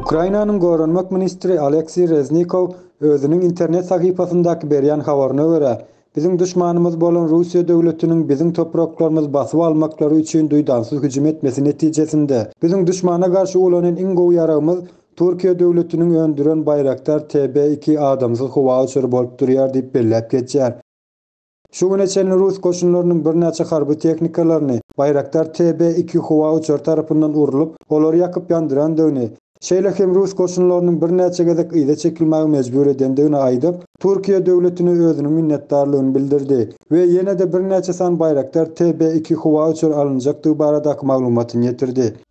Ukrainanyň goranmak ministri Aleksiý Reznikow özüniň internet sahypasyndaky berýän habaryna görä, biziň duşmanymyz bolan Russiýa döwletiniň biziň topraklarymyzy basyp almaklary üçin duýdansyz hüjüm etmesi netijesinde, biziň duşmana garşy ulanan iň gowy ýaragymyz Türkiýe döwletiniň öndüren Bayraktar TB iki adamsyz howa uçary bolup durýar diýip belläp geçýär. Şu güne çenli rus goşunlarynyň birnäçe harby tehnikalaryny Bayraktar TB iki howa uçary tarapyndan urlup, olary ýakyp-ýandyrandygyny, şeýle hem rus goşunlarynyň birnäçe gezek yza çekilmäge mejbur edendigini aýdyp, Türkiýe döwletine özüniň minnetdarlygyny bildirdi we ýene-de birnäçe san Bayraktar TB iki howa uçary alynjakdygy baradaky maglumatyny ýetirdi.